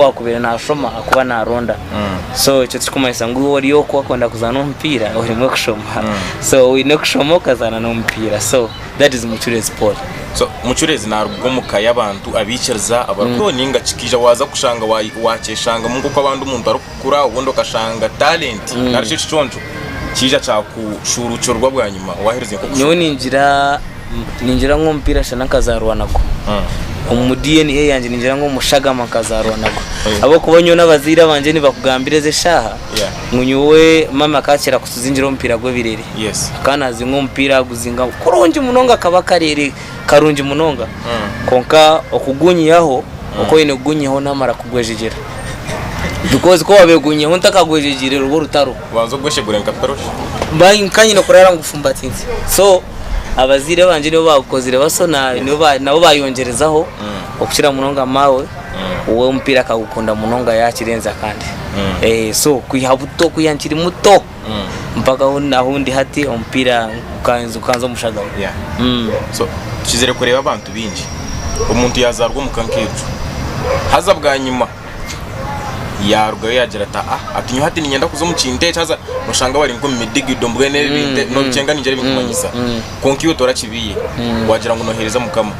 owaakubaire naashoma ahakuba naaronda so ekyo tikirikumanyisa ngu iwe ori okwo wakwenda kuzaana omupiira orimwe kushoma so oine kushoma okazaana n'omupiira so that is mucureezi paul So, mucureezi naaruga omu ka y'abantu abaikiriza abarikuriho ninga kikaija waaza kushanga wa- waakyeshangamu nk'oku abandi omuntu arikukura obundi okashanga talenti narishi ekiconco kiija kyakushuuruukirwa bwanyima waaherize nk'okushoma nyowe ningira Ningira ngu omupiira shana nkazaarwa nagwo. Omu DNA yangye ningira ngu omushagama nkazaarwa nagwo. Ahabw'okuba nyowe n'abazaire bangye nibakugambira ezi eshaaha ngu nyowe maami akakira kutuzingira omupiira gw'ebirere. Akaba naazinga omupiira aguzinga kurungi munonga kaba akareere karungi munonga. Kwonka okugunyihaho oku oine kugunyihaho naamara kugwejegyera. Bikozi ku waabaire ogunyiihaho otakagwejegyeire ruba orutaro. Obanze ogweshegure nka toroshi. Mbahi nkanyine kurara ngufumbatirize so abazaire bangye nibo bagukozire baso nabo bayongyerezaho okukira munonga maawe we omupiira akagukunda munonga yakirenza kandi so kwiha buto kwiha nkiri muto mpaka ahundi hati omupiira gukanza omushagawe so tukizire kureeba abantu bingi omuntu yazarwa omuka nkecu haza bwanyima yarugayo yagira ati aa ati nyowe hati ninyenda kuza omu kintu eki haza noshanga bari nkomu midigido mbwenu ebi bintu nobikyenga ningira ebikumanyisa kwonka iwe torakibiye wagira ngu nohereza mukama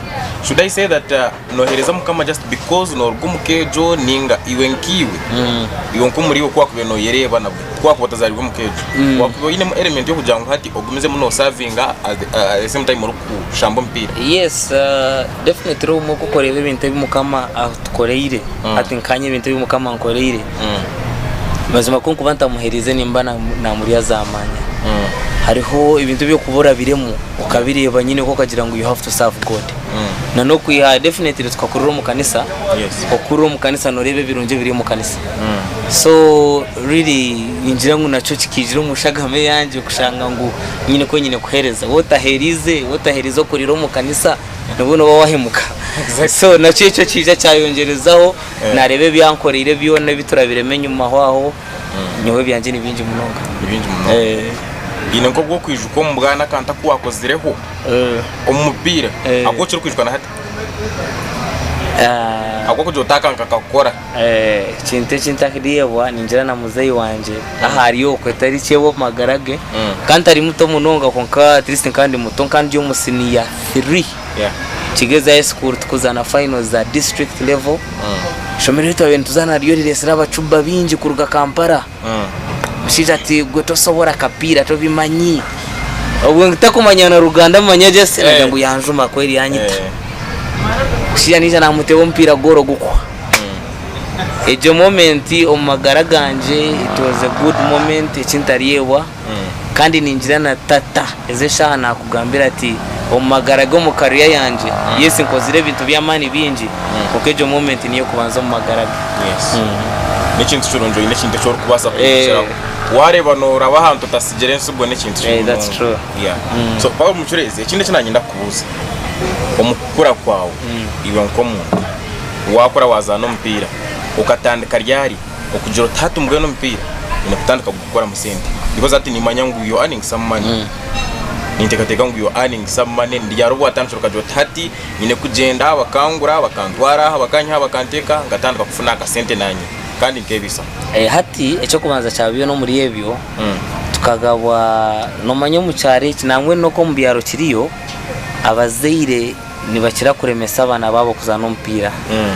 should i say that ah, nohereza mukama just because noruga omu ka egyo ninga iwe nkaiwe iwe nkomuri iwe kuwakubaire noyereeba nabwe kuwakuba otazaribwe omu ka egyo wakuba oyinemu element yokugira ngu hati ogumizemu nosavinga at the- ah, at the same time orikushamba omupiira yes ah, Definitely obumwe kukureeba ebintu ebi mukama atukoreire hati nkanye ebintu ebi mukama ankoreire mazima ku nkuba ntamuheriize nimba na- namurya zamanya hariho ebintu ebyokuba orabiremu okabireeba nyine ku okagira ngu you have to serve god na nokwiha definitely tukakurira omu kanisa Yes. okurira omu kanisa noreeba ebirungi ebiri omu kanisa so really ningira ngu nakyo kikaijira omu nshagama eyangye kushanga ngu nyine ku nyine kuhereza wotaheriize wotaheriize okurira omu kanisa nibwo nooba wahemuka so nakyo ekyo kiija kyayongyerezaho naareeba ebi yankoreire byona ebi turabiremu enyima aho aho nyowe ebyangye ni bingi munonga ni bingi munonga Eh, haine nk'obu okwijuka omu bwana akantu aku waakozireho eh, omu mupiira Eh. aku okirikwijuka na hati ah. aku okugira oti aka nkakakora Ekintu eki ntakireebwa ningira na muzeeyi wangye ahu ari okwe tari kye omu magara ge ka ntari muto munonga kwonka at least nkaba ndi muto nkaba ndi omu siniya three nikigyeeza high school turikuzaana finals za district level eishomeero eri twaabaire nituzaana ryo ririitsire abacuba baingi kuruga Kampala Omushaija ati gwe tosobora akapiira tobimanyi. Obwo ntakumanya na Ruganda manya just eh. nagira ngu yanjuma kweri yanyita. Eh. Omushaija naija namuteeba omupiira gora ogukwa. Hmm. Egyo moment omu magara gangye it was a good moment ekintaryebwa. kandi ningira na Tata. Ezi eshaaha naakugambira ati, omu magara ge omu career yangye, yes nkozire ebintu by'amaani bingi, kwonka egyo moment niyo kubanza omu magara ge. Yes. N'ekintu kirungi oine ekintu eki orikubaasa kwegyeseraho. Eh. Waareeba nooraba ahantu otatsigire entsigo n'ekintu kibi munonga. That's true. Yeah. So Paulo Mucureezi, ekindi eki naanye ndakubuuza, omu kukura kwawe iwe nk'omuntu, waakura waazaana omupiira, okatandika ryari okugira oti hati mbwenu omupiira nyine kutandika kuguzaana? kukoramu sente because hati nimanya ngu you're earning some money mm. ninteekateeka ngu you're earning some money ndi hariho bwatandikira okagira oti hati nyine kugyenda bakangura bakantwara aha bakanyiha bakanteeka nkatandika kufuna akasente nanye kandi nkeebisa eh, hati ekyokubanza kya byona omuri ebyo mm. tukagabwa nomanya omu kyaro eki nangwa noku omu byaro kiriyo abazaire nibakira kuremesa abaana baabo kuzaana omupiira mm.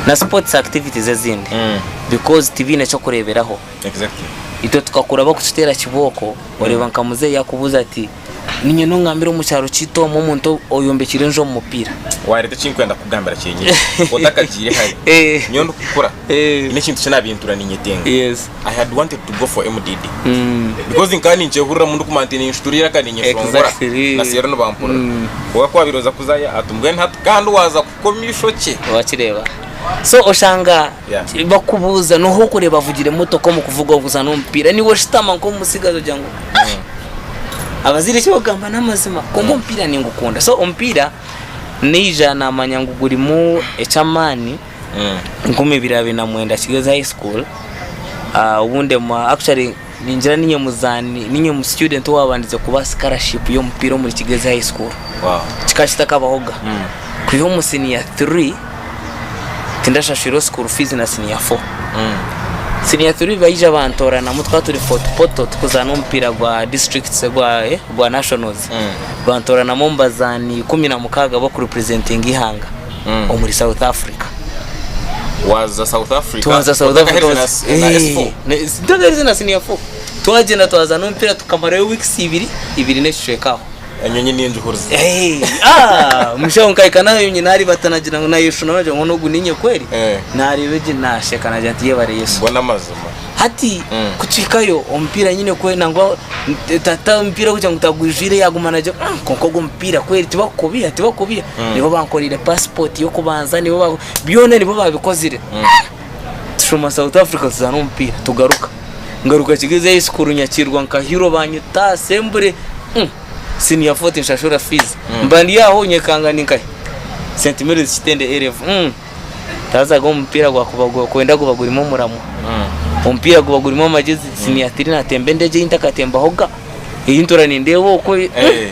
na sports activities ezindi mm. because tibiine ekyokureeberaho Itwe tukakuraba kukiteera kibooko. Oreeba nka muzeeyi yakubuuza ati, Niinye n'ogu ngambire omu kyaro kyaitu omu omuntu oyombekiire enju omu mupiira? Waareeta eki ndikwenda kukugambira kyenyini otakagiire hare. Nyowe ndikukura nyine ekintu eki naabintuura niinyetenga. I had wanted to go for MDD because nkaba ninkyehuriramu ndikumanya nti ninshutura eiraka niinyeshongora na seero nibampurira. Kwonka ku waabaire oza kuzayo ati, Mbwenu hati kandi waaza kufa? Komya eishokye. Wakireeba? So oshanga Yeah. bakubuuza noha okureeba avugire emotoka omu kuvuga okuzaana omupiira niwe oshutama nk'omutsigazi ogira ngu "Ai, abazaire eki bakugamba n'amazima kwonka omupiira ningukunda so omupiira naija namanya ngu gurimu eky'amaani nk'omw'ebiro abiri na mwenda kigeze high school ah, obu ndemwa actually Ningira ninye muzaani ninye mu student owaabandize kubaha scholarship y'omupiira omuri Kigezi High School. Kikaba kitakabaho ga. Kwiha omu siniya three tindashashwirwe school fees na siniya four. Siniya three baija bantooranamu tukaba turi Fort Portal tukuzaana omupiira gwa districts gwa eh gwa nationals. Bantooranamu omu bazaani ikumi na mukaaga ab'okurepresentinga eihanga. omuri south africa waza south africa twaza south Otaka africa Herize was- na- na Eh, S4. ne- sitaka herize na senior four twagenda twaza n'omupiira tukamarayo weeks ibiri ibiri n'ekicweka aho enyonyi ningihuriza Eh, ah, mushaho nkahika nayo nyina ari bata nagira ngo nayeshuna nagira ngo n'ogu ninye kweri Eh. nareeba egye nasheka nagira nti yebare yesu bona amazima Hati kukihikayo omupiira nyine kwe nangwa eh, ta- ta omupiira kugira ngu tagwijwire yaguma nagya "Ah, kwonka ogu omupiira kweri tibakukubiha tibakukubiha nibo bankorire passport y'okubanza nibo ba- byona nibo babikozire tushoma south africa tuzaana omupiira tugaruka ngaruka kigezi high school nyakirwa nka hero banyita assembly Mm. senior four tinshashura fees mba ndi aho nyekanga ndi nkahe st mary's kitende a level Mm. Taazaga omu mupiira gwakuba gwakwenda guba gurimu omuramwa. Omupiira guba gurimu amagezi siniya tiri natemba endegye ei ntakatembahoga ei ntura nindeeba okwo ei eh.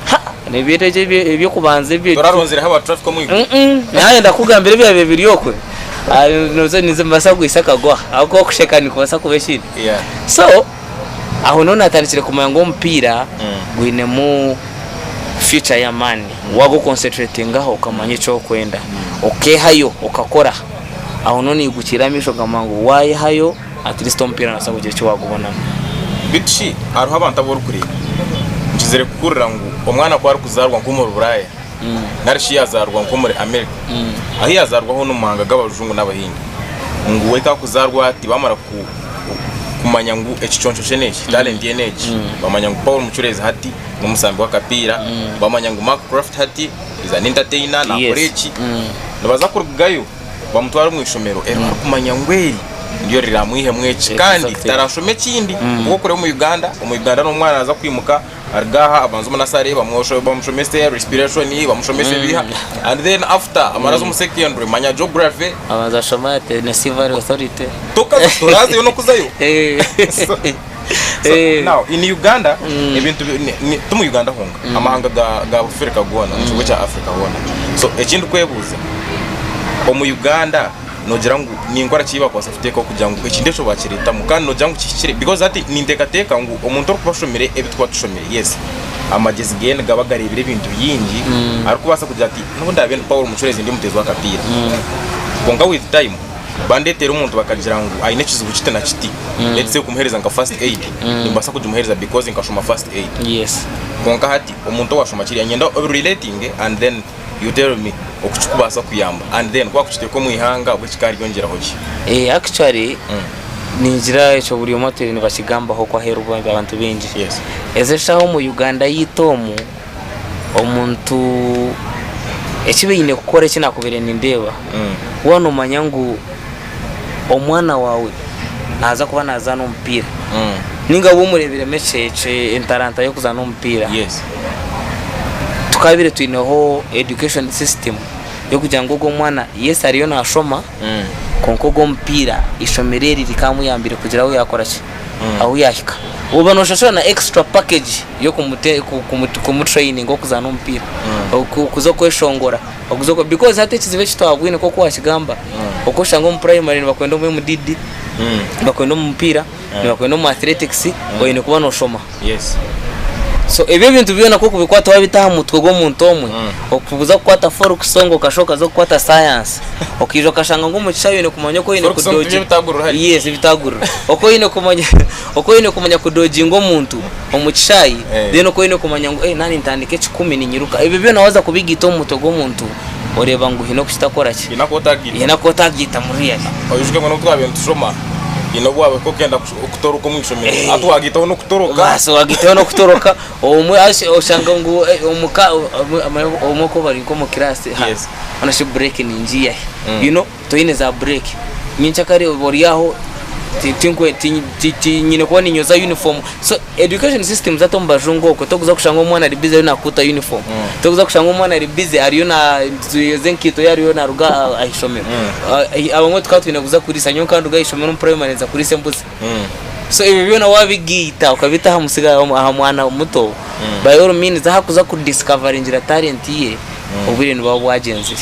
Ha! Nebyo endegye ebyo ebyokubanza ebyo ekyo. Toraronzireho aba traffic omu iguru. Mm-mm. Naaye ndakugambira ebyabiire biri okwe. Ah, nizo- nizo nibaasa kugwisa akagwaha. Ahabw'okuba kusheka nikubaasa kuba ekindi. Yeah. So, Aho niho natandikire kumanya ngu omupiira gwinemu future y'amaani wagu concentratingaho okamanya eki orikwenda okehayo okakora aho niho nigukiira amaisho okagamba ngu wayehayo at least omupiira nobaasa kugira eki wagubonamu. Beitu shi hariho abantu abu orikureeba? Nkizire kuhurira ngu omwana ku arikuzaarwa nk'omuri buraaya nari shi yazaarwa nk'omuri Amerika ahu yazaarwa hoona omu mahanga g'abajungu n'abahindi ngu we kakuzaarwa ati bamara kumanya ngu ekiconco kye n'eki, talenti ye n'egi, bamanya ngu Paul Mucureezi hati n'omusambi w'akapiira, bamanya ngu Mark Craft hati is an entertainer, nakora eki, nibaza kurugayo bamutware omu ishomero eri barikumanya ngu eri niryo riramwihemu eki kandi tarashome ekindi, ahabw'okureeba omu Uganda, omu Uganda n'omwana naza kwimuka. aruga aha abanze omu nasare bamushomese respiration bamushomese ebiha and then after amara aze omu secondary manya geography abanza ashoma ate ne civil authority tokaza torazeyo nokuzayo Eh. So- so Eh. now in uganda ebintu bi- ni- ni- ti mu uganda honka amahanga ga- ga bufirika goona omu kigo kya africa hoona so eki ndikwebuuza omu uganda nogira ngu ninkora ki eyibakubaasa kuteekaho kugira ngu ekintu ekyo bakireetamu kandi nogira ngu kihikire because hati ninteekateeka ngu omuntu orikuba ashomire ebi tuba tushomire yes amagyezi geye nigaba gareebire ebintu bingi arikubaasa kugira ati nyowe ndaabe ndi Paul Mucureezi ndi omuteezi w'akapiira kwonka with time bandeeteera omuntu bakagira ngu aine ekizibu kiti na kiti let's say kumuheereza nka first aid nimbaasa kugimuheereza because nkashoma first aid yes kwonka hati omuntu owashoma kiriya niinyenda obi relatinge and then you tell me oku kikubaasa kuyamba and then ku wakukiteeka omu ihanga obwo kikaaryongyeraho ki? Eh, actually ningira ekyo buri omwe atwire nibakigambaho ku aheeru ba- abantu baingi Yes. ezi eshaaha omu uganda yaitu omu omuntu eki baine kukora eki nakubaire nindeeba waaba nomanya ngu omwana waawe naaza kuba naazaana omupiira nainga waaba omureeberemu entaranta y'okuzaana omupiira, tukabaire twineho education system y'okugira ngu ogwo mwana yes ariyo naashoma kwonka ogw'omupiira eishomero eri rikamuyambire kugira ahu yaakora ki, ahu yaahika. Oba nooshusha shusha na extra package y'okumutraininga okuzaana omupiira, okuza kweshongora. Oguzoko because hati ekizibu eki twabwine nkoku wakigamba oku oshanga omu primary nibakwenda omu MDD nibakwenda omu mupiira nibakwenda omu athletics oyine kuba noshoma Yes. so ebyo ebintu byona nkoku bikwata wabita aha mutwe gw'omuntu omwe okuza kukwata folk song okashuha okaza kukwata science okiija okashanga ngu omu kishayi oyine kumanya oku oyine Folk song tibyo kudogye ebitagurira hare. yes ebitagurira oku oyine kumanya Oku oine kumanya kudoginga omuntu omu kishaayi, then oku oine kumanya ngu naabe nintandika ekikumi ninyiruka. Ebyo byona waza kubigaita omu mutwe gw'omuntu oreeba ngu haine oku kitaakoraki, haine aku otagaita, haine aku otagaita mu real. Oyijuke ngu n'obu twabaire nitushoma haine obu waabaire okenda kutoroka omu ishomero hati wagaitaho n'okutoroka. Baasi wagaitaho n'okutoroka obumwe oshanga ngu omuka obumwe ku bari nk'omu kiraasi, hoona shi break ningiiyahi, you know. Toine za break nyenkya kare oba ori aho tinyine kuba ninyoza uniform so education system zatu omu bajungu okwo tokuza kushanga omwana ari busy ariyo nakuuta uniform tokuza kushanga omwana ari busy ariyo nayoza enkaito ye ariyo naruga ah'eishomero abamwe tukaba twine kuza kuriisa nyowe nkanduga ah'eishomero omu primary nza kuriisa embuzi so ebyo byona wabigaita okabita aha musiri aha mwana muto by all means ahakuza ku discoveringira talent ye obwire nibuba bwagyenzire.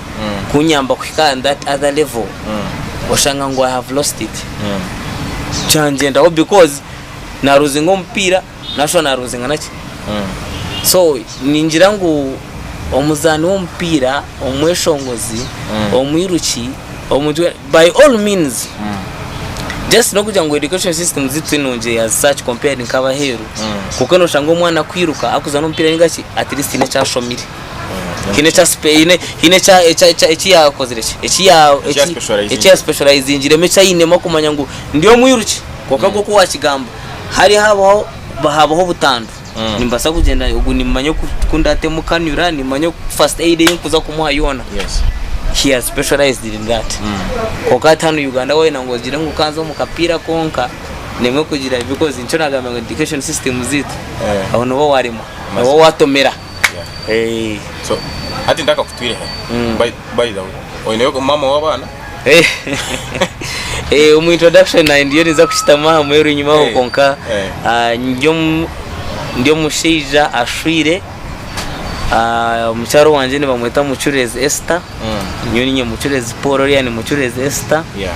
kunyamba kuhika on that other level oshanga ngu I have lost it kyangyendaho because na loosinga omupiira nashusha na loosinga naki so ningira ngu omuzaani w'omupiira omweshongozi omwiruki omuntu we- by all means just n'okugira ngu education system zitu tinungi eya such compared nk'abaheeru kuko noshanga omwana kwiruka akuzaana omupiira ninga ki at least haine eki ashomire haine eki yaayeheriize eki ainemu okumanya ngu ndi omwiruki. Kwonka nk'oku waakigamba, hare haabaho obutandwa, nimbaasa kugyenda nimanya oku ndaateema kanyura, nimanya first aid ei ndikuza kumuha yoona. Kwonka hati hanu Uganda waayenda ngu ogire ngu okanze omu kapiira konka, nimwo kugira ngu nikyo naagambira ngu education system zeitu, aho niho waaremwa, niho waatomera. Eh, so hati ntakakutwire he by, by the way oineyo mama w'abaana eh, eh, omu introduction nayo ndiyo ninza kushitama aha mweru enyima aho Eh, kwonka eh. ah, ndi omu- ndi omushaija ashwire Ah, mukyaro wangye nibamweta mucurezi Esther Mm. nyowe ninye mucurezi Paul oriya ni mucurezi Esther yeah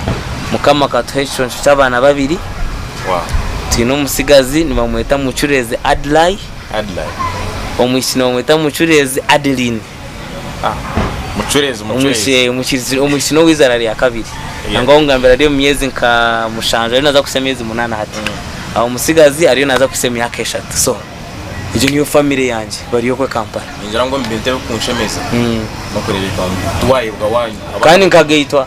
mukama akatuha ekiconco ky'abaana babiri wow twine omutsigazi nibamweta mucurezi Adlai Adeline. Omwishiki nibamweta Mucureezi Adeline. Mucureezi, Mucureezi. Eeh, Mucureezi, omwishiki n'ow'eizaara rya kabiri. Nangwa ahu ngambira ari omu myezi nka mushanju, ariyo naaza kuhitsya emyezi munaana hati. Aho omutsigazi ariyo naaza kuhitsya emyaka eshatu. So, egyo niyo famire yangye, bari okwe Kampala. Ningira ngu omu bintu ebirikunshemeza, n'okureeba ebi twayebwa waanywa. Kandi nkagaitwa.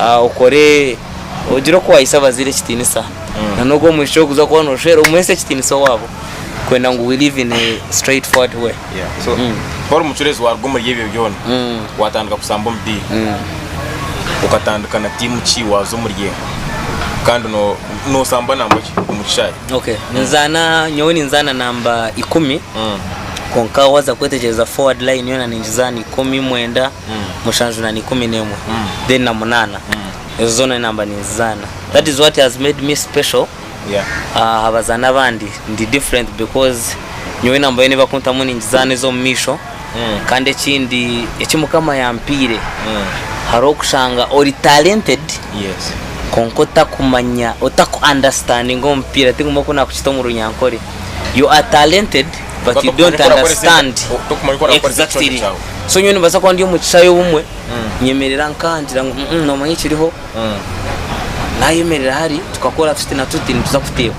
ah, okore ogire oku waayisa abazaire ekitiinisa na n'ogu omwishiki orikuza kuba nooshwera omuheese ekitiinisa owaabo kwenda ngu we live in a straight forward way Yeah. So, ku ori omucureezi waaruga omuri ebyo byona waatandika kusamba omupiira okatandika na tiimu ki waaza omuri emwe kandi no- noosamba namba ki omu kishaayi okay ninzaana nyowe ninzaana namba ikumi kwonka waaza kwetegyereza forward line yoona ningizaana ikumi mwenda mushanju na ikumi n'emwe then na munana ezo zona ninamba ninzizana that is what has made me special ahabazani abandi ndi different because nyowe enamba yona eyibakuntamu ningizana ezomumaisho kandi ekindi eki mukama yampaire haroho okushanga ori talented kwonka otakumanya otaku understandinga omupiira tinguma oku nakukita omurunyankore you are talented but you don't understand exactly so nyowe nibaasa kuba ndi omu kishaayi obumwe nyemerera nka ngira ngu "Mm, mm, noomanya ekiriho nayemerera hari tukakora tuti na tuti nituza kuteeba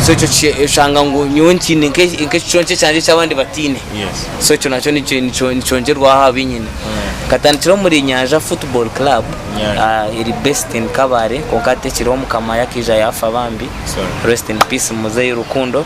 so ekyo ki- oshanga ngu nyowe ntiine nke- nk'ekiconco kyangye eki abandi bataine Yes. so ekyo nakyo nikyo- nikyo- nikyongyerwaho aha bi nyine nkatandikira omuri nyanja football club Nyanja. ah, eri based in kabale kwonka hati ekiriho mukama yakaija yaafa bambi Sorry. rest in peace muzeeyi rukundo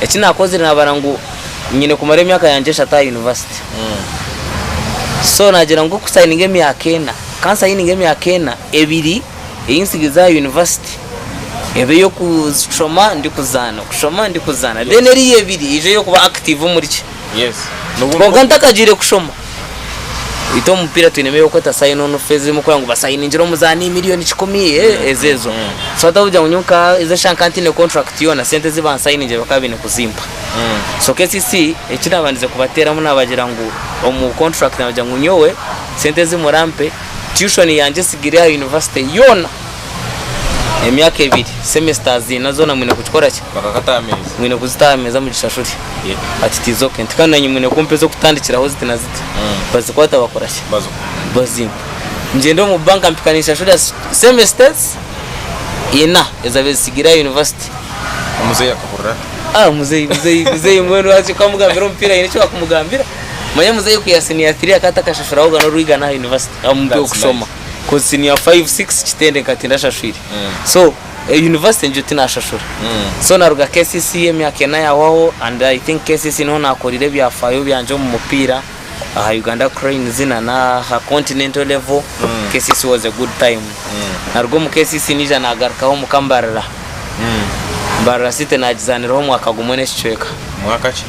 Eki naakozire naabara ngu nyine kumara emyaka yangye eshatu aha yunivasite. So naagira ngu ku nsayininga emyaka ena, ka nsayininge emyaka ena, ebiri ei ntsigiize aha yunivasite ebe ey'okushoma ndikuzaana, kushoma ndikuzaana. Then eriiya ebiri eije ey'okuba active omuri ki. Kwonka ntakagiire kushoma. Beitu omu mupiira twinemu eyokweta sign on fee ezirimu kugira ngu basayiningire omuzaani million kikumi eh, ezo ezo. So hati orikugira ngu nyowe nka ezo eshaaha nkaba ntiine contract yoona sente ezi bansayiningire bakaba baine kuzimpa. So kcc eki naabandize kubateeramu naabagira ngu omu contract naagira ngu nyowe sente ezi murampe tuition yangye etsigire aha university yoona emyaka ebiri semesters ina zona mwine kukikora ki bakakata ameza mwine kuzitaho ameza mu gishashuri yeah. ati tiza okay nti kandi nanye mwine kumpa ez'okutandikiraho ziti na ziti mm. bazikwata bakora ki bazimpa ngyenda omu banka mpika ninshashurira semesters ina ezabe zisigire aha university omuzeeyi akahurira ah muzeeyi muzeeyi muzeeyi mbwenu lwaki ukamugambira omupiira yine eki wakumugambira manya muzeeyi ku ya senior 3 akata akashashuraho gana orwigana aha university amupe okushoma cause senior 5 6 kitende nka tindashashwire so eh, university ngyo tinashashura so naruga KCC emyaka ena yahwaho and I think KCC niho nakorire ebyafayo byangye omu mupiira aha Uganda Cranes na n'aha continental level KCC was a good time naruga omu KCC nija nagarukaho omu Kambarira Mbarara City naagizaaniraho omwaka gumwe n'ekicweka. Mwaka ki?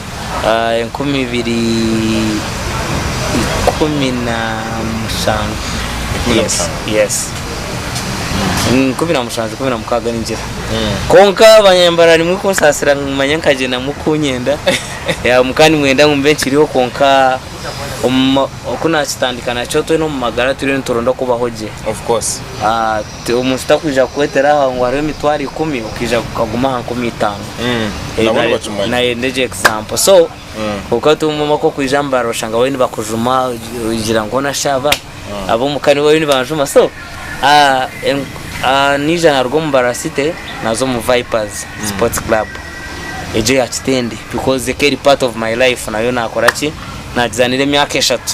Ah, enkumi ibiri ikumi na mushanju. Ikumi na Yes, mushanju. yes. Mm, ikumi na mushanju ikumi na mukaaga ningira kwonka abanyambarara nimwe kunsaasira nimanya nkagyendamu kunyenda Ya, muka nimwenda ngu mbe nkiriho kwonka omu- oku naakitandika nakyo twena omu magara turiyo nituronda kubaho gye Of course. Ah, Omuntu takwija kukwetera aha ngu hariho emitwaro ikumi okaija okaguma aha nkumi itaano. Nabo nibakimanya. Nayenda egyo example. So, kwonka hati omu maka okwija mu baara oshanga bariyo nibakujuma, ogira ngu hoona shi aba? Ab'omu ka nibo bariyo nibanjuma. So, ah, en- ah, naija naruga omu Mbarara City naza omu Vipers Sports Club. Egyo ya Kitende because eka eri part of my life nayo nakora ki? Naagizaanira emyaka eshatu.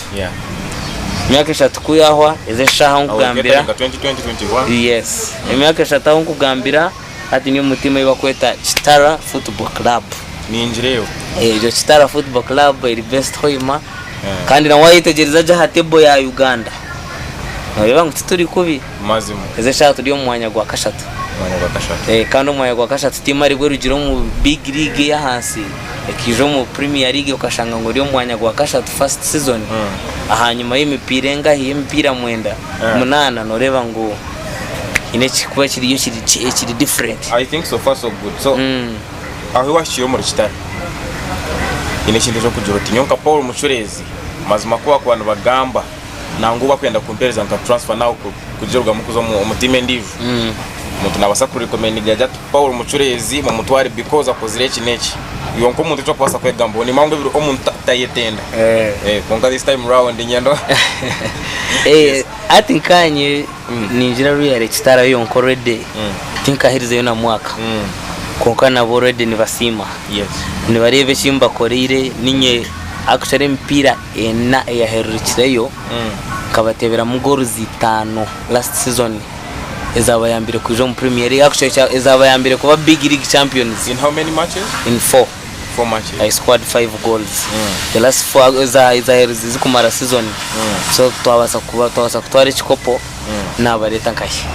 Emyaka eshatu ku yahwa, ezi eshaaha ahu nkugambira. Yes. Emyaka eshatu ahu nkugambira, hati ndi omu tiimu ei barikweta Kitara Football Club. Egyo Kitara Football Club eri based Hoima. Kandi na waayetegyereza gye aha table ya Uganda, nooreeba ngu tituri kubi. Ezi eshaaha turi omu mwanya gwa kashatu. Kandi omwanya gwa kashatu tiimaribwe erugire omu Big League ey'ahansi. ekaija omu Premier League okashanga ngu eri omu mwanya gwa kashatu first season, ahanyima y'emipiira engahi? Y'emipiira mwenda, munaana, nooreeba ngu haine ekirikuba kiriyo ekiri ki- ekiri different. I think so far so good. So Mm. aho iwahikire omuri kitare haine ekintu ekyokugira oti nyowe nka Paul Mucureezi mazima ku bakuba nibagamba nangwa obu akwenda kumpereza nka transfer nawe kugira orugamu kuza omu team endijo mm. omuntu nabasa ku recommend gaja ati Paul mucureezi mumutware because akozire eki neki yonka omuntu ekyo kubasa kwegamba oni mangu ebiro omuntu tayetenda eh. eh konka this time round nyendo eh ati nkanye mm. ningira ruyare kitara yonka already mm. tinkahirizeyo na mwaka mm. konka nabo already nibasiima yes nibareba ekimbakoreire ninye mm. akushara emipiira ena eyaherurikireyo nkabateberamu goals itaano last season ezabayambire kwija omu Premier League actually kya- ezabayambire kuba big league champions In how many matches? in four Four matches. I scored five goals the last four eza- ezaherurize zikumara season so twabasa kuba twabasa kutwara ekikopo nabareeta nkahi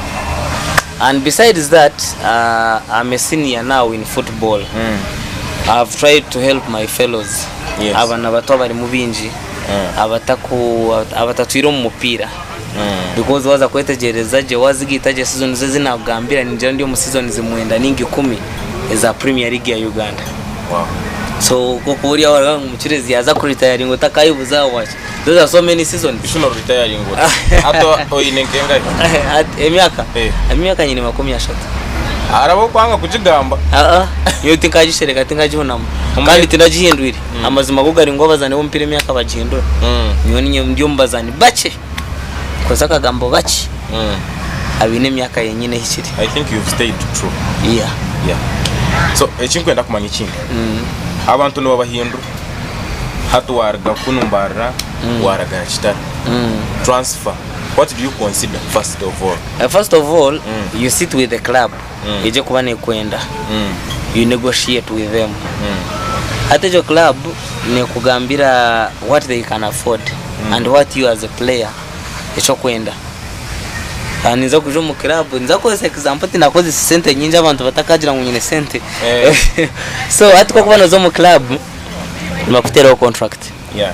and besides that uh, I'm a senior now in football mm. I've tried to help my fellows yes. abana bato abarimu bingi mm. abataku abatatwire omu mupiira mm. because waza kwetegereza gye wazigaita gye season ze zinakugambira ningira ndi omu season zimwenda ninga ikumi eza premier league ya uganda wow. so kokuba ori aho araga mukirezi yaza kuritayaringa otakayibuza waki Those are so many seasons. Ishuno retiring ora. Ato oyine nkengahe? At- emyaka Eh. emyaka nyine makumi ashatu Araba okwanga kugigamba. Ah, ah. nyowe tinkagishereka tinkagihunamu Omwe- kandi tinagihindwire amazima go gari ngu abazaani b'omupiira emyaka bagihindura Mm, nyowe ninye ndi omu bazaani bakye nkoze akagambo bakye mm. abaine emyaka yenyine ehikire I think you've stayed true. Yeah. Yeah. So ekinkwenda kumanya ekindi. Mm. Abantu nibabahindura. hati waruga kunu mbarira waraga aha kitara transfer what do you consider first of all Uh, first of all you sit with the club egye kuba nekwenda you negotiate with them hati egyo club nekugambira what they can afford and what you as a player ekyokwenda Kandi ninza kuza omu club ninza kukozesa example tinakozesa sente nyingi abantu batakagira ngu nyine sente Eh. so hati kokuba noza omu club nibakuteraho contract Yeah.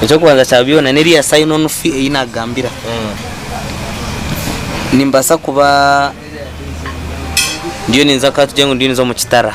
ekyokubanza kya byona neriya sign on fee eyi nakugambira Mm. nimbasa kuba ndiyo ninza katugire ngu ndiyo ninza omu kitara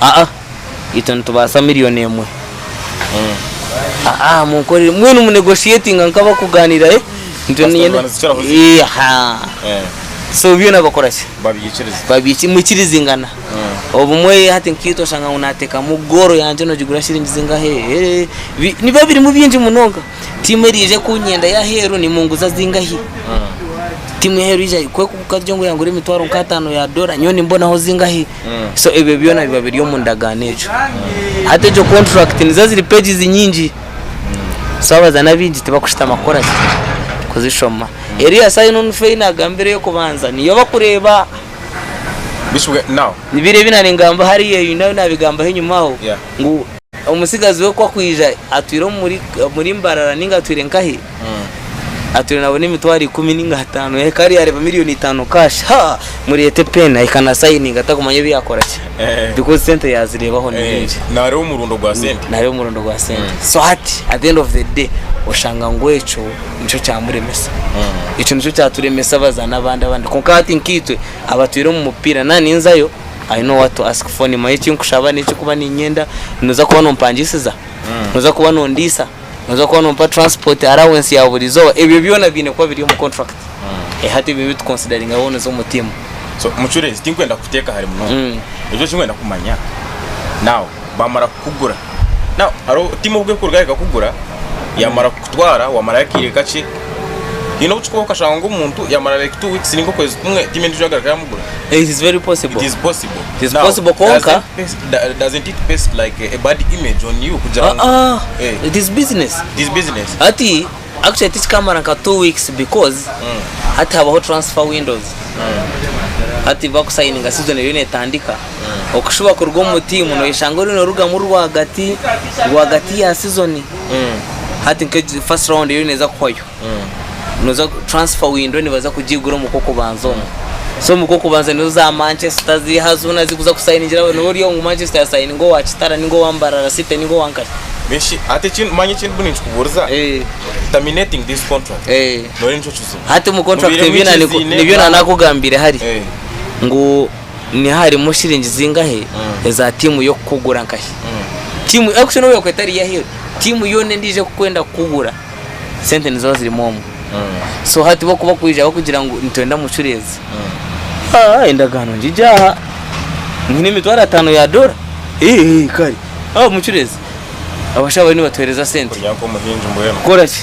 Aa, itwe nitubaasa million emwe. Eeh, aa, aa, munkorere, mbwenu mu negotiatinga nk'abakugaaniira, eh, nitwe Kasita niinyenda, obaanizikiraho zi- eeh, ahaa. Eh, So byona bakora ki? babyikiriza. Babyiki, mwikirizingana. Obumwe hati nk'itwe oshanga ngu naateekamu goal yangye noogigura shiringi zingahe, eeh, bi- nibiba birimu bingi munonga. Tiimu eriija ekunyenda y'aheeru nimunguza zingahi? Tiimu y'aheeru eija kwe kuguza ngu yaangura emitwaro nk'ataano ya dora, nyowe nimbonaho zingahi? so ebyo byona biba biri omu ndagaano egyo hati egyo contract nizo ziri pages nyingi so abazana abaingi tibakushutama kukora ki kuzishoma eri ya sign on fee nagambira eyokubanza niyo bakureeba Bishop, now, nibiri ebi nari ngamba hariya ebi nabigambaho enyuma aho yeah. ngu Omutsigazi we ku akwija atwire omuri mbarara ninga atwire nkahi atwire nabona emitwaro ikumi ninga hatano yahika ari yareba million itano cash ha murete pen ahika na signing atakumanya ebi yakora ki because sente yazirebaho ni nyingi nareba omurundo gwa sente nareba omurundo gwa sente so hati at the end of the day oshanga ngu ekyo nikyo kyamuremesa ekyo nikyo kyaturemesa baza nabandi abandi konka hati nkaitwe abatwire omu mupira na ninzayo I know what to ask for niimanya eki nkushaba n'eki kuba niinyenda. Nooza kuba nompangisiza? Nooza kuba nondiisa? Nooza kuba nompa transport allowance ya buri izooba? Ebyo byona biine kuba biri omu contract. Hati ebyo nibitu consideringa waaba nooza omu tiimu. So mucureezi tinkwenda kukuteeka ahari munonga. Ekyo eki nkwenda kumanya now bamara kukugura hariho tiimu obu erikurugayo ekakugura yamara kukutwara wamarayo akaire kakye haine obu kikubaho okashanga ngu omuntu yamara like two weeks ninga okwezi kumwe tiimu endijo yagaruka yamugura it is very possible it is possible it is possible kwonka doesn't it paste like a bad image on you kugira ngu it is business it is business hati. Actually tikikamara nka two weeks because hati habaho transfer windows hati bakusayininga season eriyo netandika okushuba kuruga omu team noyeshanga oriyo norugamu rwagati rwagati ya season hati nka egi first round eriyo neza kuhwayo noza transfer window nibaza kugigura omu kwokubanza omu so omu kwokubanza nizo za Manchester ziiha zoona zikuza kusayiningira niwe oryomu Manchester yasayininga owa Kitara ninga owa Mbarara city ninga owa Nkasha. Beshi ati eki manya eki ndimu ninkikuburiza Eh, terminating this contract eh. nore nikyo kizibu hati mu contract Mubiire nibyo nane- mwikiziine, nibyo mwa- nanakugambire hari Eh, ngu niha harimu shiringi zingahe Mm. eza tiimu y'okukugura nkahi mm. tiimu actually nobu yakuba etari yaheru tiimu yoona endiijo ekukwenda kukugura sente niziba zirimu omu Mm, so hati bo kuba kwiija bakugira ngu nitwenda mucureezi mm. Ah, endagaano ngigyaha nyine emitwaro ataano ya dora Eh, eh, kare Aho mucureezi abashaho bariyo nibatuheereza sente kurya nk'omuhingi mbwenu kukora ki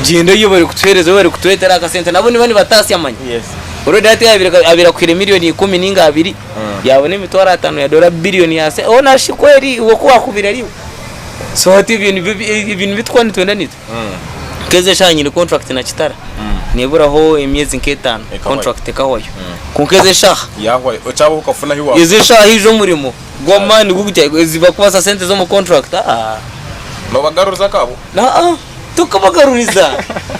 gyenda oyihe barikutuheereza oba barikutwetera akasente nabo niba nibataasya manya yes already hati yaabire- abaire akuhaire million ikumi ninga abiri Mm. yaabona emitwaro ataano ya dora billion ya se oh narishi kweri iwe ku waakubaire ari iwe so hati ebyo nibyo bi- ebyo nibyo turikuba nitwenda niitwe Mm. nk'ezi eshaaha nyine contract na kitara Mm. neeburaho emyezi nk'etaano Ekahwayo. contract ekahwayo Mm. kwonka ezi eshaaha yahwayo okyaba okafuna ahi wa ezo eshaaha haija omurimo Goma nigwo gutya zibakubaza sente zomu contract aah. Nobagaruriza akabo? Aa tokubagaruriza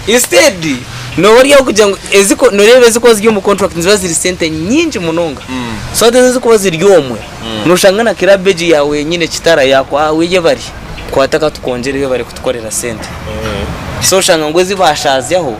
instead noba ori aho kugira ngu eziko noreeba ezikuba ziri omu contract niziba ziri sente nyingi munonga so hati ezo ezikuba ziri omwe noshanga na club egyo yaawe yenyine kitara yaku aa weye bari kwata katukongyereyo bari kutukorera sente so oshanga ngu ezibashazyaho.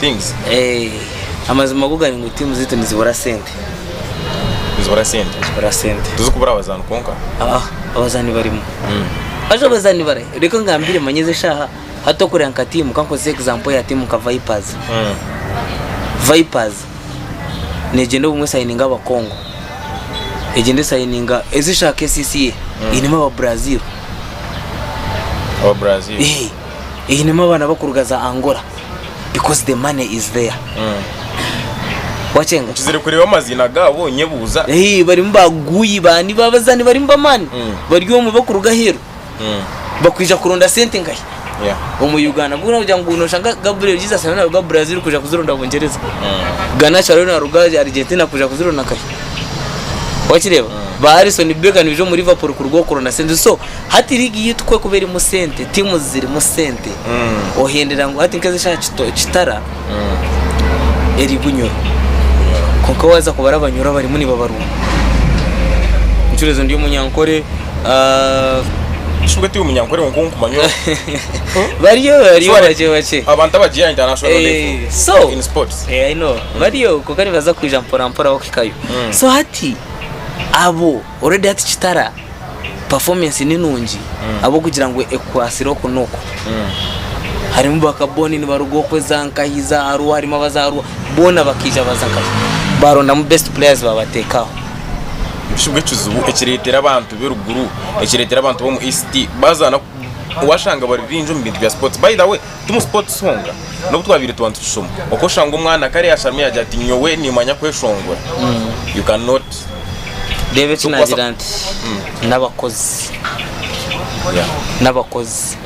things. Eeh amazima go gali ngu team zitu nizibura sente. Nizibura sente? Nizibura sente. Tizikubura abazaani kwonka? Aah abazaani barimu. Haza abazaani bari ahi? Reka ngambire manya ezi eshaaha hati okureba nka team kankozese example ya team nka vipers. Vipers negyenda obumwe esayininge aba Congo, egyenda esayininga ezi eshaaha kcca einemu aba Brazil. Aba Brazil? Eeh einemu abaana bakuruga za Angola. because the money is there wakyenga nkizire kureeba amaziina gaabo nyebuuza Hey, barimu ba guyi bani babazaani barimu bamaani Mm. bari omwe bakuruga aheeru Mm, bakwija kuronda sente nkahi yeah. omu uganda mbwenu kugira ngu noshanga gabriel jesus ariyo naruga brazil kuja kuzironda bungyereza ganacho ariyo naruga argentina kuja kuzironda nkahi wakireeba ba alison becker nibaija omu liverpool kuruga oku kuronda sente so Hati liigi yaitu ku ekuba erimu sente, tiimuzi zirimu sente, ohendera ngu hati nk'ezi eshaaha Kito- Kitara eri Bunyoro. Kwonka waaza kubara Abanyoro abarimu nibabarwa. Mucureezi ndi omunyankore. ah, Shi mbwenu tiri omunyankore kwonka owokumanya ogu. Bariyo, bariyo Surely, bakye bakye. Abantu abagiira international Eh, level so in sports. Eh, I know. bariyo kwonka nibaza kwija mporampora bakuhikayo so hati abo Already hati Kitara performance ni nungi ahabw'okugira ngu ekukwatsire oku n'oku. Harimu ba Kaboni nibaruga oku eza Nkahi, za Arua, harimu aba za Arua, boona bakaija baza Nkahi. Baarondamu best players baabateekaho. Bushu bwe ekizibu ekireetera abantu be ruguru, ekireetera abantu b'omu East baazaana ku, waashanga bari baingi omu bintu bya sports. By the way, Ti omu sports honka n'obu twabaire tuba nitukishoma kwonka oshanga omwana akare yasharamu yaagira ati nyowe niimanya kweshongora you can not Reeba eki naagira nti n'abakozi yeah n'abakozi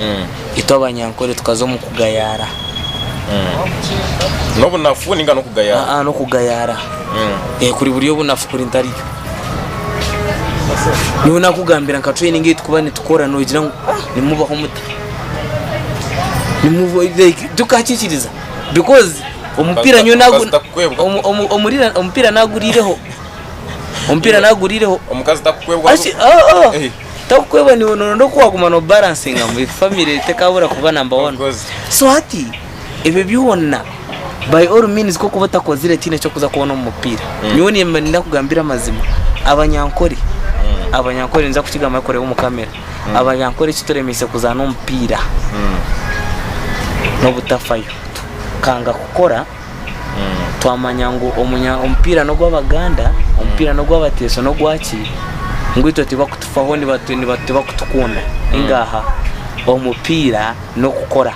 itwe abanyankore tukaza omu kugayaara n'obunafu ninga n'okugayaara aa n'okugayaara Eh, kuri buri obunafu kuri ntariyo nyowe naakugambira nka training ei tukuba nitukora noogira ngu "Ah, nimubaho muta Nimuvo- like, tukakikiriza because omupiira nyowe Omukazi nagu- takukwebwa. omu- omu- omurira- omupiira naguriireho omupiira naguriireho omukazi takukwebwa Aki- ah, ah. Eh. takukwebwa niwe noronda oku waguma no balansinga ngu family tekabura kuba number one Omukazi. so hati ebyo byona by all means ko kuba otakozire tihaine eki orikuza kubona omu mupiira nyowe niimba niinda kugambira amazima abanyankore abanyankore ninza kukigamba barikureeba omu kamera abanyankore eki turemeise kuzaana omupiira n'obutafayo tukanga kukora twamanya ngu omunya- omupiira n'ogw'abaganda omupiira n'ogw'abateeso n'ogwaki ngu itwe tibakutufaho nibatu- nibatu- tibakutukunda ningaha omupiira n'okukora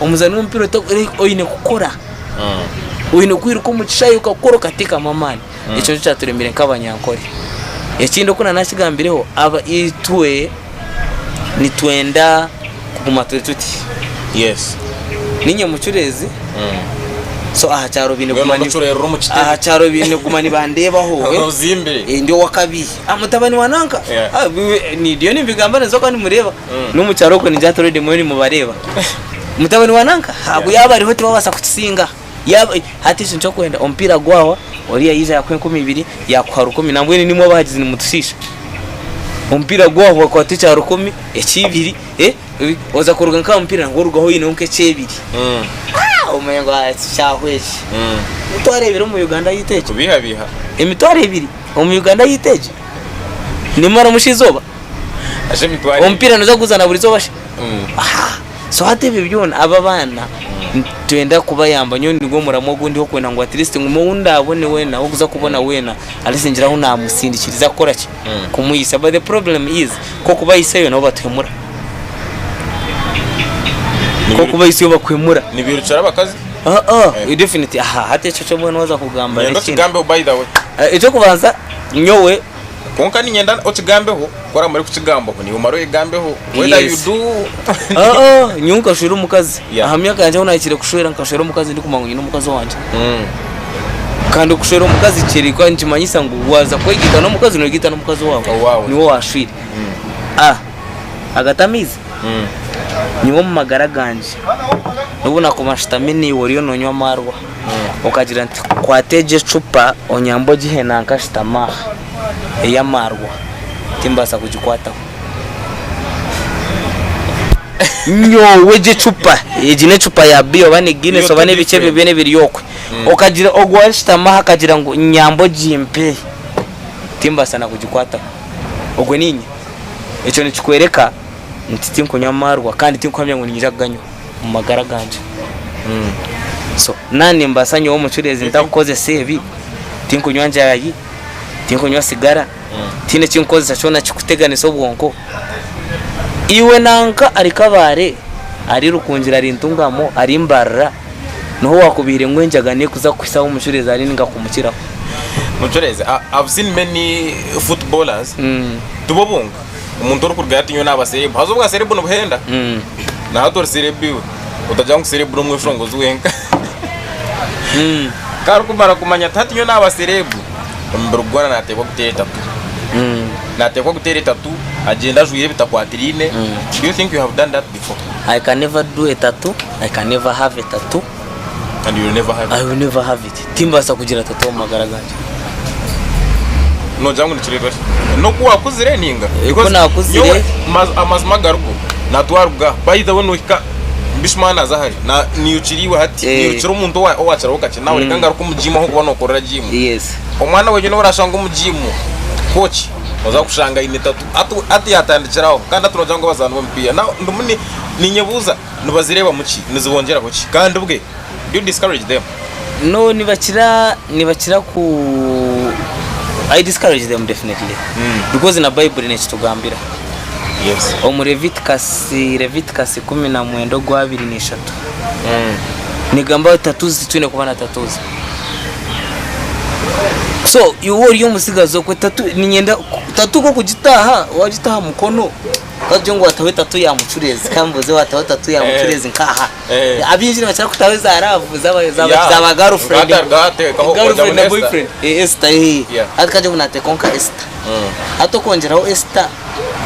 Omuzaani w'omupiira ota- ori- oine kukora Mm. oine kwiruka omu kishaayi okakora okateekamu amaani ekyo nikyo kyaturemire nk'abanyankore ekindi oku na naakigambireho aba itwe nitwenda kuguma turi tuti yes ninye mucureezi Mm. so aha kyaro baine Mbwenu kuguma ni- omucureerire omu kitebe. aha kyaro baine kuguma nibandeebaho eh. ozimbire Eh, ndi owakabi Ah, mutabani wa nanka Yeah. Ah, biwe- ni- ndiyo nimbigamba ninza kuba nimureeba Nomu kyaro okwe ningira hati already mwenu mubareeba. Mutabani wa nanka agu yaba ariho tibabasa kukisinga. Yaba hati ekyo nikyokwenda omupiira gwawa oriya yaija yakuha enkumi ibiri yakuha rukumi nambwenu nimwe abahagizi nimutushiisha. Omupiira gwawa wakwata ekya rukumi, ekyibiri eh oza kuruga nkaha mupiira nabwo orugaho oyineho nkekyebiri. Aah omanya ngu eki kyahwa eki. Emitwaro ebiri omu Uganda yaitu egyo. Kubiihabiiha. Emitwaro ebiri omu Uganda yaitu egyo. Nimaramu shi izooba. omupiira noza kuguzana buri izooba shi so hati ebyo byona abo abaana nitwenda kubayamba nyowe nigwe muramwa ogu ndiho kwenda ngu atleast ngume ou ndaabone weena ou orikuza kubona weena atleast ngire ahu naamusindikiriza kukora ki kumwitsya but the problem is ku okubaitsyayo nabo batuhemura ku okubaitsyayo bakuhemura nibirukira abakazi Ah, ah, Eh. definitely aha hati ekyo kyo mbwenu waza kugamba ngenda n'ekindi. okigambeho by the way Eh, ekyokubanza nyowe Kwonka niinyenda okigambeho ku oraabe orikukigambaho niiwe omare oyegambeho whether you Yes. do Ah, ah, nyowe nkashwera omukazi Yeah. aha myaka yangye ahu nahikire kushwera nkashwera omukazi ndikumanya ngu nyine omukazi owangye Mm. kandi okushwera omukazi kiri kuba nikimanyisa ngu waaza kwegaita n'omukazi noyegaita n'omukazi owaawe Owaawe. niwe owaashwire Ah, agatamiizi Mm. nyowe omu magara gangye n'obu nakuba nshutami naiwe oriyo noonywa amaarwa Okagira nti, Kwata egi ecupa onyambe ogihe nankashitama aha ey'amaarwa, timbaasa kugikwataho. Nyowe egi ecupa, egi n'ecupa ya biya oba ni Guinness oba n'ebiki ebyo byona ebiri okwe. Okagira ogwo ow'arishutami aha akagira ngu nyamba ogimpe, timbaasa na kugikwataho. Ogwo niinye. Ekyo nikikwereka nti tinkunywa maarwa kandi tinkuhamya ngu niinyija kuganywa. omu magara gangye. So nanye nimbaasa nyowe omucureezi ntakukozesa ebi, tinkunywa njaayi, tinkunywa sigara, tihaine eki nkukozesa kyona kikuteganisa obwonko. Iwe nanka ari Kabale, ari Rukungiri, ari Ntungamo, ari Mbarara, niho waakubaire ngu enjaga neyo kuza kuhitsya ahu omucureezi ari ninga kumukiraho. Mucureezi, I have seen many footballers, tibwo bwonka. omuntu orikurugayo ati nyowe naba serebu haza obwa serebu nibuhenda Mm. na hati ori serebu iwe otagira ngu serebu n'omweshongozi wenka Mm. ku arikumara kumanya ati hati nyowe naba serebu omubiri gwona nateekwa kuteera etatu Mm. nateekwa kuteera etatu agyenda ajwaire ebitakwatiraine do you think you have done that before I can never do a tattoo. I can never have a tattoo. and you'll never have it. I will never have it. Timbaasa kugira tata omu magara gangye. Nogira ngu nikireetwa ki? N'oku waakuzire ninga? Eh, ku Because naakuzire- nyowe maz- amazima garigo natwaruga by the way nohika bish man aza hare na- niyukira iwe hati Eh. niyukira omuntu owa- owakiraho kakye nawe reka ngaruke omu jiimu ahokuba nokorera jiimu Yes. omwana wenyu nobu orashanga omu jiimu kooki oza kushanga aine tatu Atu- ati yatandikiraho kandi ati nogira ngu abazaani b'omupiira Now, ndimu ni- ninyebuuza Nibazireebamu ki? Nizibongyeraho ki? Kandi bwe, do you discourage them? No, nibakira nibakira ku I discourage them definitely because na Baiburi nekitugambira Yes. omu Leviticus Leviticus ikumi na mwenda ogwa abiri na ishatu negamba ngu tatuzi titwine kuba na tatuzi so iwe ori omutsigazi okwe tatu ninyenda ku- tatu nk'okugitaaha wagitaaha mukono Twagira ngu wataho etatu ya mucureezi ka mbuuze wataho etatu ya mucureezi nk'aha Eh. abaingi nibakira kutaho eza laavu zaba Yeah. zaba zaba girlfriend Ngata- ngateekaho girlfriend ojamu na n'esta. boyfriend Eh, esita eh Yeah. hati kagire ngu naateekaho nka esita hati okwongyeraho esita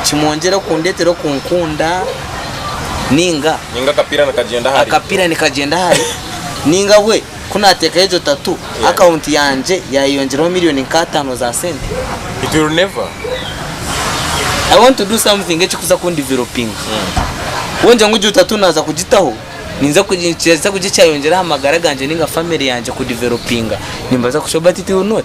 kimwongyere kundeetera okunkunda ninga ninga akapiira nikagyenda ahari akapiira nikagyenda ahari ninga bwe Ku naateekayo egyo tatu, akaunti yangye yaayeyongyeraho milioni nk'ataano za sente. It will never. I want to do something ekirikuza kundivelopinga. Wongyera ngu egyo tatu naaza kugitaho, ninza ku, nikibaasa kugira eki kyayongyera aha magara gangye nainga family yangye kudivelopinga. Nimbaasa kushoma but it will not.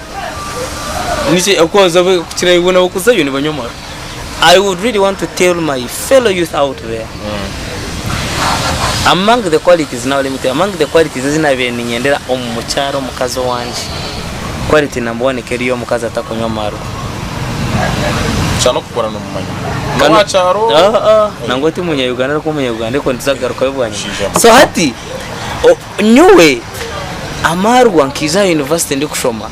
Nikyo ekikworobya abo kukira iwe nabo kuzayo nibanywa amaro. I would really want to tell my fellow youth out there, among the qualities, now let me tell you, among the qualities ezi naabaire niinyendera omu mukyara omukazi owangye, quality number one ekaba eri ey'omukazi atakunywa amaro. Kyana okukura noomumanya. Kandi- N'owa kyaro. Ah, ah, nangwa ti Munya-Uganda arikuba Omunya-Uganda ariko nituza kugarukayo bwanyima. Omushaija muto. So hati, o- Nyowe amaarwa nkaija aha yunivasite ndikushoma,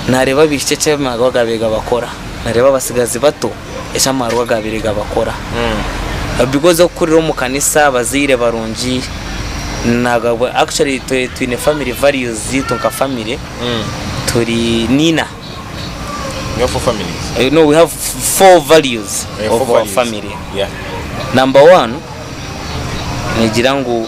naareeba abaishiki eki amaarwa gaabaire gabakora, naareeba abatsigazi bato eki amaarwa gaabaire gabakora. Because okukurira omu kanisa, abazaire barungi, naagabwa, actually twe twine family values zaitu nka family, turi niina. Niyo four families. Eh, No, we have four values Eh, four of our values. family. Yeah. Number one, nigira ngu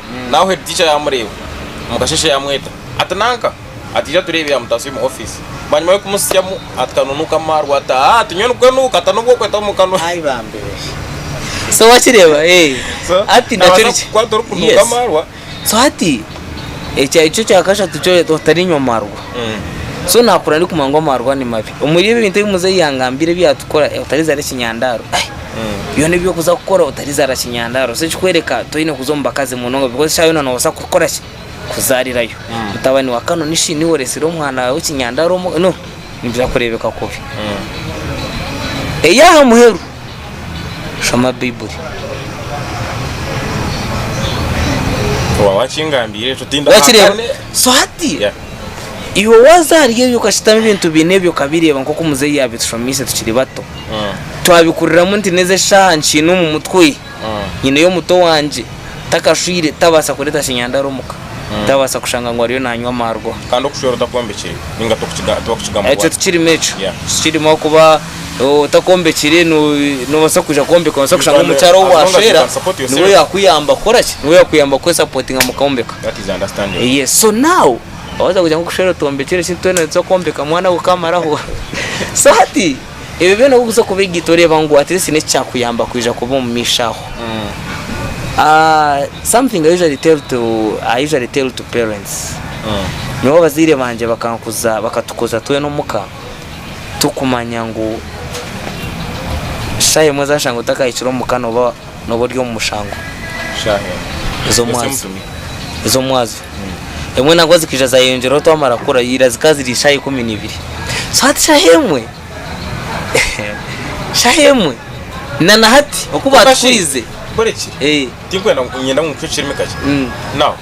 Naho head teacher yamureeba omukasheeshe yamweta ati nanka ati ija tureebe yamutaasa omu office bwanyima yokumutsyamu ati kanunuka amaarwa ati haa ati nyowe nikwenuuka ati anobu okweta omukanwa Ai bambeere. So wakireeba eeh. So Hati nakyo nabaasa nikyo. kukwata orikunuuka Yes. amaarwa. So hati ekyo ekyo ekya kashatu kyo reero otarinywa amaarwa. So naakura ndikumanya ngu amaarwa nimabi. Omuri ebyo ebintu ebi muzeeyi yangambira ebi yaatukora, otariizi hare ekinyandaaro, ai. Byona ebi orikuza kukora otarizaara kinyandaaro so ekikworeka toine kuza omu bakazi munonga because eshaaha yoona noobaasa kukora ki kuzaarirayo mutabani wa kano nishi niwe oretsire omwana waawe ekinyandaaro omu no nibiza kureebeka kubi. Ey'aha muheru shoma baiburi. Waaba wakingambiire ekyo tindi aha Wakireeba kane. so hati Yeah. iwe waaza ahari ebyo okashitama ebintu biine ebyo okabireeba nk'oku muzeeyi yaabishomiise tukiri bato twabikuriramu nti n'ezi eshaaha nkiine omu mutwe nyineyo omuto wangye takashwire tabaasa kureeta kinyandaro omuka tabaasa kushanga ngu ariyo nanywa amarwa kandi okushwera otakombekire ninga tibakukigamu ekyo tikirimu ekyo tikirimu ahakuba otakombekire nobaasa kwija kwombeka nobaasa kushanga omukyara ou washwera niwe oyakuyamba kukoraki niwe oyakuyamba kwesapotinga mukombeka so now Waza kugira ngu kushwera otwombekire eki twena nituza kwombeka mwana we okamaraho so hati ebyo byona obu bikuza kubegaita oreeba ngu at least neki kyakuyamba kwija kuba omu maisho aho something I usually tell to I usually tell to parents nyowe abazaire bangye bakankuza bakatukuza twena omuka tukumanya ngu shaaha emwe oza kushanga otakahikire omuka noba noba ori omu mushango ezo mwazo emwe nabwo zikaija zayeyongyeraho twamara kukura ira zikaba ziri ishaha ikumi nibiri so hati shaha emwe shaha emwe nanahati okubatukwize tikwenda ngu ncwe ekirimi kakye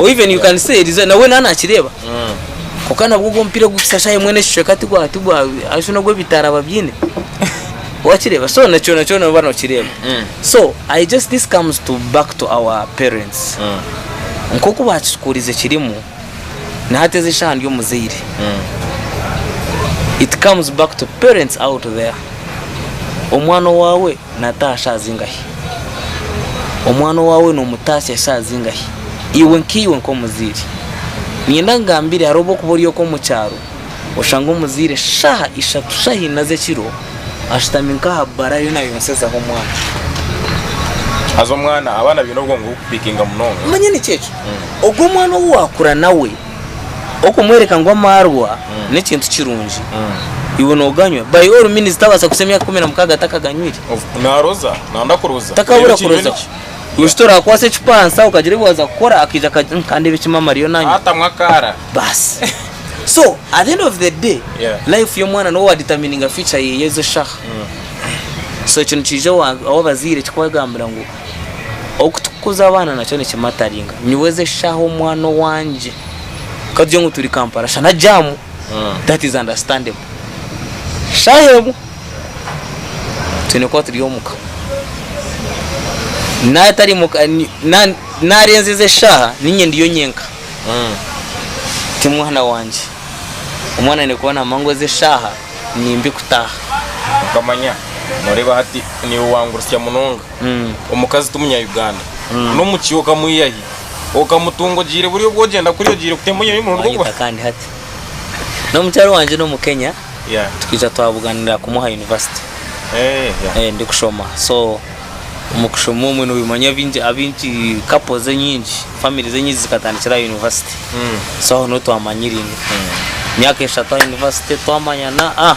or even you can say Eliza nawe nawe nakireba kwonka nabwo ogwo omupiira gukukira shaaha emwe nekicweka tigwa tigwa ashi nogwebitaara babyine wakireba so na kyona kyona noba nokireba so i just this comes to back to our parents nkoku bakitukuurize kirimu nahati ezi eshaaha ndi omuzaire it comes back to parents out there omwana owaawe Nataaha shaaha zingahi? Omwana owaawe noomutaasya shaaha zingahi? Iwe nkaiwe nk'omuzaire, niinyenda nkugambire hariho obwokuba ori oku omu kyaro oshanga omuzaire shaaha ishatu shaaha ina z'ekiro ashutami nk'aha bbara ariyo naayonsezaho omwana. Haza omwana, abaana baine obwongo burikupiikinga munonga. Omanya nikyo ekyo? Ogwo mwana ou waakura nawe. Okumworeka ngu amaarwa n'ekintu kirungi, iwe nooganywa? By all means tabaasa kuhitsya emyaka ikumi na mukaaga atakaganywiire. Naaroza, naanda kuroza. Takabura kuroza ki? Iwe shi toraakwatsa ekipansa okagira ebi waaza kukora akaija akagira ngu kandeeba eki maama ariyo nanywa. Atamu akaara. Baasi. So at the end of the day, Yeah. life y'omwana niwe waadetermininga future yeeye ezi eshaaha. So ekyo nikiija wa- waabazaire ekikwegambira ngu. Oku tukukuza abaana nakyo nikimataringa. Nyowe ezi eshaaha omwana owangye ka tugire ngu turi Kampala shana jaamu, that is understandable. Shaaha emwe twine kuba turi omuka. Naaba tari muka, ni- na- naarenza ezi eshaaha niinye ndiyo nyenka, ti mwana wangye. Omwana aine kuba naamanya ngu ezi eshaaha ni mbi kutaaha. Okamanya, nooreeba hati niiwe wangurutsya munonga. Omukazi ti munya-Uganda. N'omu ki okamwiha hi? Okamutunga ogiire buri obu ogyenda kuri ogiire kutema oyihayo omurundi gw'okubara? Wanyita kandi hati. N'omukyara wangye n'omu Kenya, Yeah. twija twabuganira kumwe aha yunivasite. Eh, yeah. Eh, ndikushoma. So, omu kushoma omwe noyemanya abingi abingi couples enyingi, families enyingi zikatandikira aha yunivasite. So aho niho twamanyiraine. Emyaka eshatu aha yunivasite twamanyana, ah!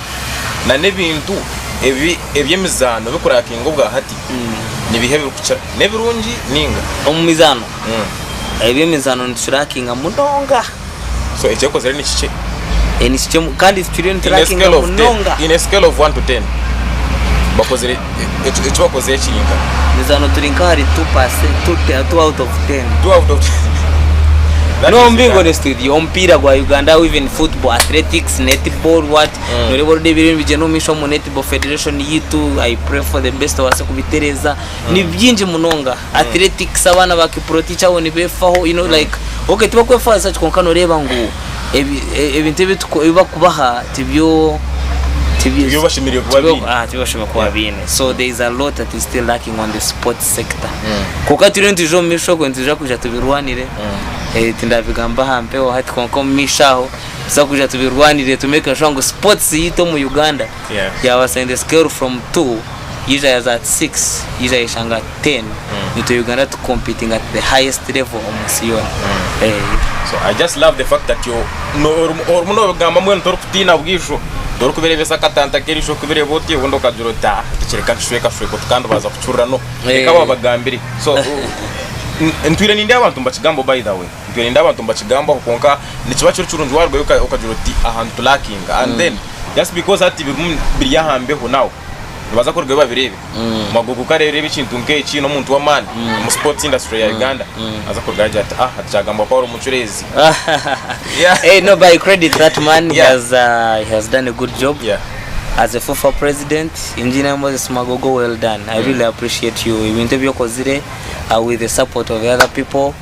na n'ebintu ebi eby'emizaano bikurakinga obwa hati nibiha ebirikukira n'ebirungi ninga Omu mizaano, eby'emizaano niturakinga munonga. so ekyekozire nikikye Eh, nikikye mu- kandi turiyo in a niturakinga scale of 10 munonga. in a scale of 1 to 10 bakozire Eki eki wakoze kiri nka. Ndeeza hanu turi nka ahari two percent, two te- two out of ten. Two out of That No, is mbingo that. honest with you, omupiira gwa Uganda how even football, athletics, netball, what, Mm. noreeba orudda ebiriyo nibigyenda omu maisho omu netball federation yitu, I pray for the best obaase kubitereeza, ni bingi munonga. Athletics abaana ba kiprotich abo nibefaho you know like okay tibakwefaanisa ki kwonka noreeba ngu ebi- e- ebintu ebi tuku- ebi bakubaha tibyo tibyo Tibyo bashemereire kuba tibyo- baine. ah, tibyo bashemereire kuba baine so there is a lot that is still lacking on the sport sector kwonka turiyo nitwija omu maisho ogo nitwija kwija tubirwanire Eh, tindabigamba aha mpewo hati kwonka omu maisho aho tuza kwija tubirwanire to make sure ngu sports yaitu omu Uganda Yeah. yabasa in the scale from two yaija yaza at 6 yaija yeshanga at 10 nitwe uganda tu competing at the highest level omu nsi yoona Eh, So I just love the fact that you no- orum- orumu nobigamba mbwenu torikutiina bwijo torikubireebesa akatanta ak'erisho okubireba oti obundi okagira oti ah tikiri reka tushwekashweke oti kandi baza kucurura no reka Eh. wabagambire so uh, n- ntwire nindeba abantu nibakigambo by the way ntwire nindeba abantu nibakigambaho kwonka nikiba kiri kirungi warugayo oka- okagira oti ahantu tulakinga and then just because hati birimu biri aha mbeho now nibaza kurugayo babireebe magogo ku areebereba ekintu nk'eki n'omuntu w'amaani omu sports industry ya Uganda aza kurugayo agira ati ah hati kyagambwa ku ari omucureezi Yeah. hey, no, but I credit that man. He Yeah. has uh, he has done a good job Yeah. as a FUFA president. Engineer Moses Magogo, well done. I really appreciate you. Ebintu ebyokozire uh, with the support of the other people.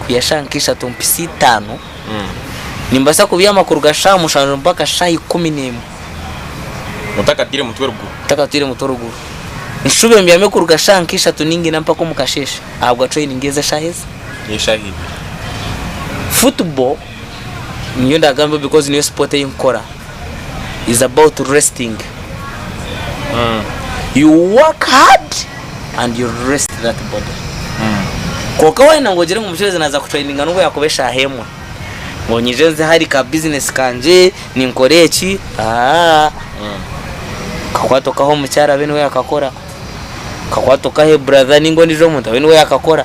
kuhika shaaha nka ishatu mpitsi itaano nimbaasa kubyama kuruga shaaha mushanju mpaka shaaha ikumi n'emwe otakataire mutwe ruguru otakataire mutwe ruguru nshube mbyame kuruga shaaha nka ishatu ninga ina mpaka omu kasheeshe ahabwa training ez'eshaaha ezi football. niyo ndagamba because niyo sport eyi nkukora is about resting mm. you work hard and you rest that body mm. kwonka wayenda ngu ogire ngu omucuruzi naza kutraininga nubwo yakuba eshaaha emwe ngu nyije nze hari ka business kangye ninkora eki aa mm. kakwata okaha omukyara abe niwe yakakora kakwata okahe brother ninga ondijo omuntu abe niwe yakakora